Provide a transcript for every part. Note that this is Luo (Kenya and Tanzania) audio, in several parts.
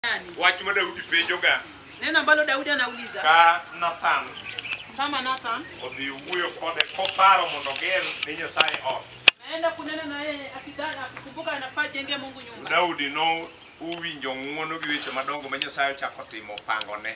gani? Wach ma Daudi penjoga Neno ambalo Daudi anauliza ka Nathan kama Nathan odhi wuoyo kode koparo mondo oger ne Nyasaye ot. naenda kunena na yeye akidhana akikumbuka anafaa jenge Mungu nyumba. Daudi no uwinjo ng'wono gi weche madongo ma Nyasaye ochako timo pangone.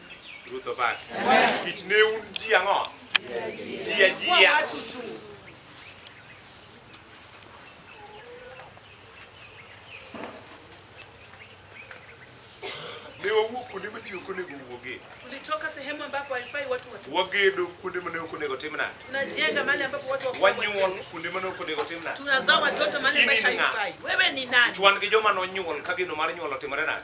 Ruth obak. Kich ne un ji ang'o? Ji ajia. Ne wawuok kuonde ma ji ok onego wuogie. Tulitoka sehemu ambapo haifai watu watu. Wagedo kuonde ma ne ok onego timna. Tunajenga mahali ambapo watu wako. Wanyuol kuonde ma ne ok onego timna. Tunazaa watoto mahali ambapo haifai. Wewe ni nani? Chwan gi joma nonyuol ka geno mar nyuol otimore nade?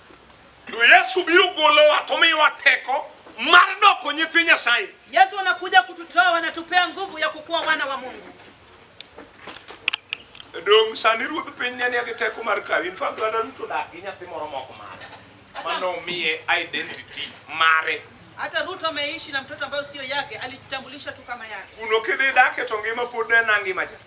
To Yesu biro golowa to miyowa teko mar doko nyithi Nyasaye. Yesu anakuja kututoa, anatupea nguvu ya kukuwa wana wa Mungu. Dong' sani ruodh piny ne nie gi teko mar kawi. In fact, dwanda duto dak gi nyathi moro moko mare. Mano miye identity mare. Hata Ruto ameishi na mtoto ambayo sio yake, alijitambulisha tu kama yake. Kuno kidhi dake to ngima pod en angima cha.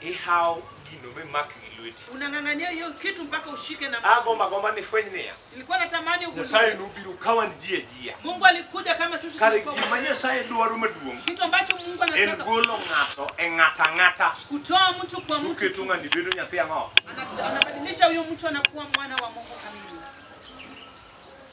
Ihaw gino mimak gi lweti. Unang'ang'ania hiyo kitu mpaka ushike na mkono. Agomba gomba ni fweny niya. Nilikuwa natamani ugundue. Nyasaye nobiro ka wan ji ajia. Mungu alikuja kama sisi Kare tulikuwa. gima Nyasaye dwaro maduong' Kitu ambacho Mungu en anataka golo ng'ato e ng'ata ng'ata. kutoa mtu kwa mtu. Uketo ng'ani bedo nyathi ang'o? Ana- Anabadilisha huyo mtu anakuwa mwana wa Mungu kamili.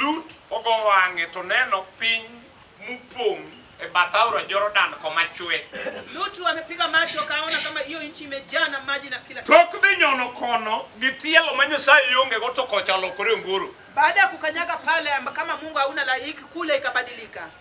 Lut ogo wang'e to neno piny mupong' e bath aora Jordan koma chwe. Lutu amepiga macho akaona kama hiyo nchi imejaa na maji na kila kitu. Tok dhi nyono kono gi tielo ma Nyasaye yongego to kocha olokore ongoro. Baada ya kukanyaga pale amba- kama Mungu hauna laiki kule ikabadilika.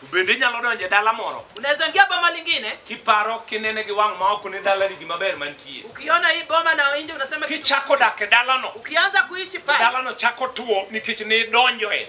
To bende inyalo donjo e dala moro unaweza ingia boma lingine kiparo kinene gi wang' ma ok ne dalani gima ber mantie. ukiona hii boma na nje unasema kitu Kichako dak e dalano, ukianza kuishi pale dalano chako tuo nikech ne idonjoe.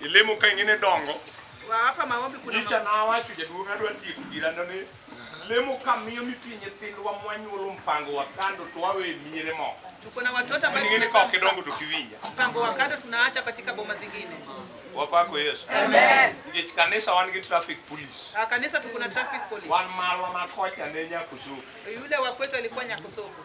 Ilemo ka ingine dongo. Wa hapa maombi kuna Nyicha na awacho jaduong' adwa tieko girano ni lemo ka miyo mitie nyithindwa mwanyuolo mpango wa kando to wawe miere moko. tuko na watoto ambao Ingine ka ok idongo to kiwinja. mpango wa kando tunaacha katika boma zingine. Wapako Yesu. Amen. Nikech kanisa wan gi traffic police. Ah, Kanisa tuko na traffic police. Wan marwa ma kocha ne Nyakusuku. Yule wa kwetu alikuwa Nyakosoko.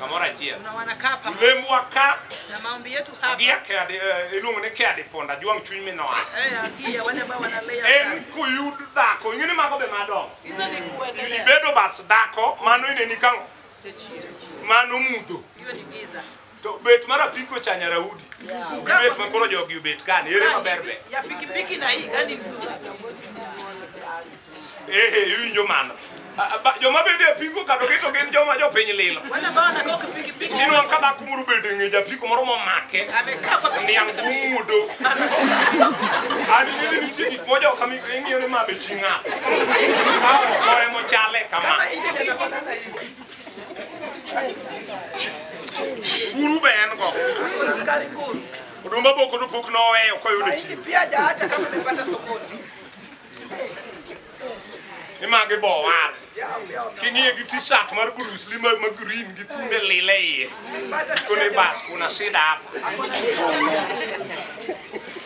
kamoro achiel na wanakaa pamoja lemo waka na maombi yetu hapa gi akadi eh, iluongo ni kadi ponda juang chuny minoa eh, haki ya wale ambao wanalea en sana. kuyud dhako ing'e ni mago be madongo Hizo ni kuendelea ibedo bath dhako mano ineni kang'o Hiyo ni giza. To bet mar apiko cha nyaraudi. Gi bet ma koro jogi obet kani, ere maber be. Ya pikipiki na hii gani mzuri? Eh, eh, iwinjo mano. A- a- ba- Joma bende apiko kado keto gin joma jopiny lilo. Wale ambao wanakaa kwa pikipiki Inwa ka dhako moro bende ng'e japiko moro momake. amekaa kwa Niang' pikipiki. mudo. Ani nini nitie gik moja kami ing'iyo ni ma be ching'a. Kawo mochale kama. Kama hii ndio inafanana hivi. Nguru be en go. Kuna askari nguru. Odumba boko no pok noweyo koyudo Mahindi chiro. pia hajaacha kama amepata sokoni. Image bo wal. Yao pia wame- King'iye gi t-shirt mar Bruce Lee ma ma green gi tunde lile iye. Pata Kone bas kuna sida hapa.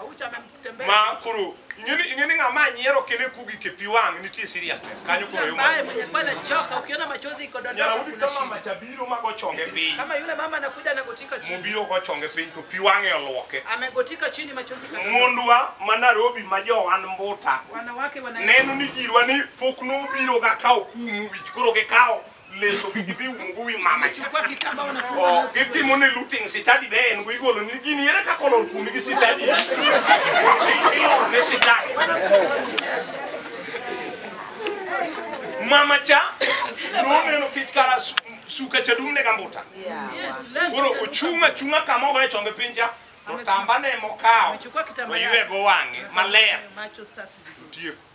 Aucha amemtembea. ma koro ing'eni ing'eni ng'ama nyiero kele kugi ke pi wang' nitie seriousness kanyo koro yuma Ambaye mwenye kuwa anachoka ukiona machozi iko nyara dondoo udi kuna kama shida. machabiro ma gochonge piny Kama yule mama anakuja anagotika chini. mobiro gochonge piny to pi wang'e olwoke Amegotika chini machozi kadondoka. mondwa ma Nairobi ma jowan mbuta Wanawake wana neno ni girwa ni pok nobiro ga kawo kumu wich koro gikawo leso gi gidhi umgo wi mama cha Chukua kitambaa unafunga Oh, nayo. gitimo ni looting sitadi be en go igolo ni gini ere kaka olor kuomi gi sitadi ilor ne sitadi mama cha noneno kech kara su- suka cha dumne gambuta Yes, let's koro go. ochung' achung'a kama ogoye chonge piny cha to tamba ne mokawo Amechukua kitambaa to ywe yake. go wang'e maler Macho safi. tieko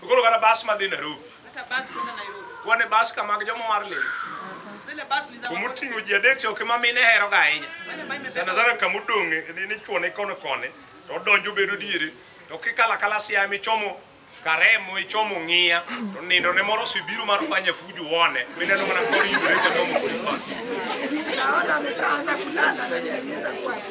Koro kata bas madhi Nairobi. Hata basi kwenda Nairobi. Wane bas ka mag joma war lemo. Zile basi ni za Kuma oting'o ji adek to kama mine heroga ahinya. wale ambao imebeba Sana sana kama odong' ni ni chuone kono kone to odonjo bedo diere to kikala kala siam ichomo karemo ichomo ng'iya to nindo ne moro osebiro mar fanya fujo one mineno mana kor yudore kochomo kodi koni. Naona ameshaanza kulala na nyingine za kwake.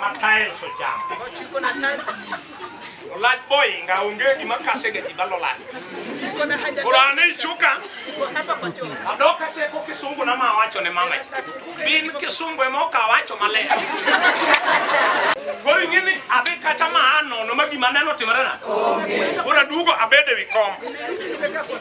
ma tiles ochamo Tuko na tiles, olach boinga onge gima kase ga ji balo lach tuko na haja koro an ei chuka tuko hapa kwa choo. adok acheko kisungu na ma wacho ne mama ji bin kisungu ema oka wacho maler koro ing'e ni adhi kacha ma anono ma gima neno timorena koro aduogo abedo e wi kom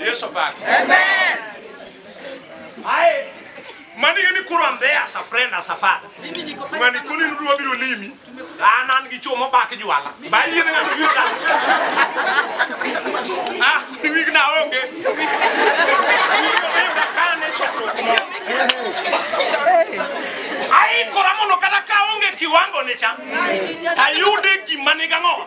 Yesu back. Amen. Aye. Mani ni kuro am there as a friend as a father. Mani kuni nudu wabiru limi. Anan gi chomo back juala. Ba yini na nudu yuta. Ah, ni wig na onge. Aye, kora mono kata ka onge kiwango ni cha. Ayude gima ni gang'o.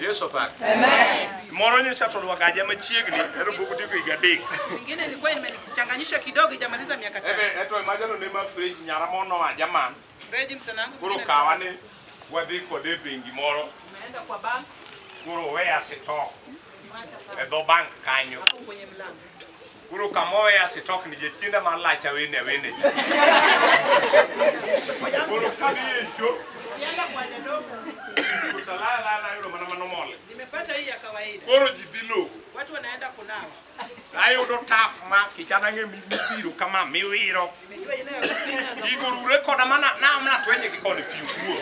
Yesu opak. Amen. Moro nyocha to lwagaja machiegni ero pok otieko higa adek. Ingine ilikuwa imenichanganyisha kidogo ijamaliza miaka tatu. Ebe eto imajano ne ma fridge nyara mono wa jaman. Fridge msana wangu. Koro kawa ni wadhi kode bengi moro. Umeenda kwa bank. Koro weya sito. E dho bank kanyo. Hapo kwenye mlango. Koro kamoweya sitok ni jachienda mar lach awene awene. Koro kadhi e cho. Kutalala lala yudo mana mano mole. Nimepata hii ya kawaida. Koro ji dhi logo. Watu wanaenda kunawa. Ayudo tap ma kichana ng'e mibiro kama miwiro. Nimejua ile ya kufinya za Gigo rure koda mana naom natwenye gi kode piu kuo.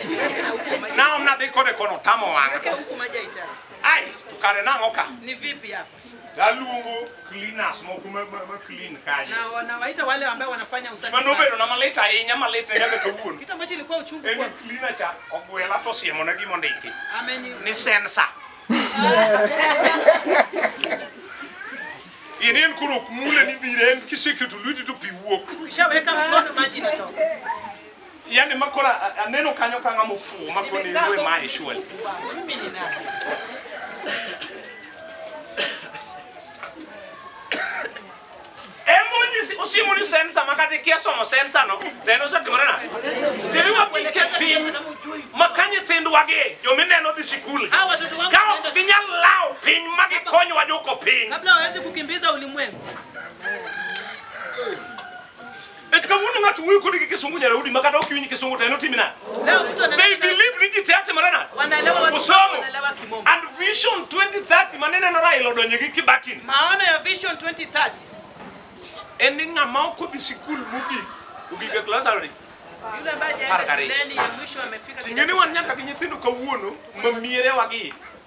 Naom nadhi kode kono tamo wang'a. huku maji haitaki. Ai, to kare nang'o ka? Ni vipi hapa? Naluongo cleaners moko ma ma- ma clean kanyo. na wanawaita wale ambao wanafanya usafi Mano pale. obedo na malit ahinya malit ne nyaka kawuono. kitu ambacho ilikuwa uchungu En ni kwangu. cleaner cha ogwela to siemo na gima ondiki ameni ni sensor. In en koro ok mule ni dhire en kisiketo lweti to pi wuok. ukishaweka mkono maji inatoka yani makora a- aneno kanyo ka ng'ama ofuwo makoni rue mae surely emonyisi usimoni sensa makati kia somo sensa no neno osetimore na tiriwa pike piny ma ka nyithindwa gi jomineno dhi sikul Hawa watoto wangu ka ok wanaenda ginyal lawo piny ma gikonywa dwoko piny kabla waweze kukimbiza ulimwengu Et kawuono ng'ato wuoyo kodi gi kisungu nyaraudi ma kata ok iwinj kisungu to en otimi nade? Leo mtu ana- They believe ni ji te atimore nade? wanaelewa watu Usomo. wanaelewa kimombo. And vision 2030 ma nineno Raila odonjo gi Kibaki ni, Maono ya Vision 2030 en ni ng'ama ok odhi sikul mogik ogik e klas ariyo. yule ambaye Haraka hajaenda rei. shuleni ya mwisho amefika Tingeni kidato wan nyaka gi nyithindo kawuono ma mierewa gi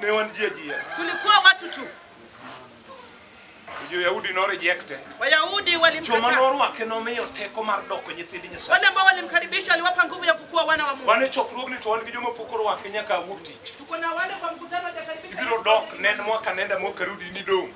Ne wan ji ajia. tulikuwa watu tu. Jo-Yahudi norejekte. Wayahudi Joma walimkataa, norwake nomiyo teko mar doko nyithind Nyasaye. wale ambao walimkaribisha aliwapa nguvu ya kukuwa wana wa Mungu. Wan e chokruogni to wan gi joma pok orwake nyaka awuok tich. Tuko na wale kwa mkutano wajakaribisha Ibiro dok nen mwaka nenda mwaka rudi nidong'.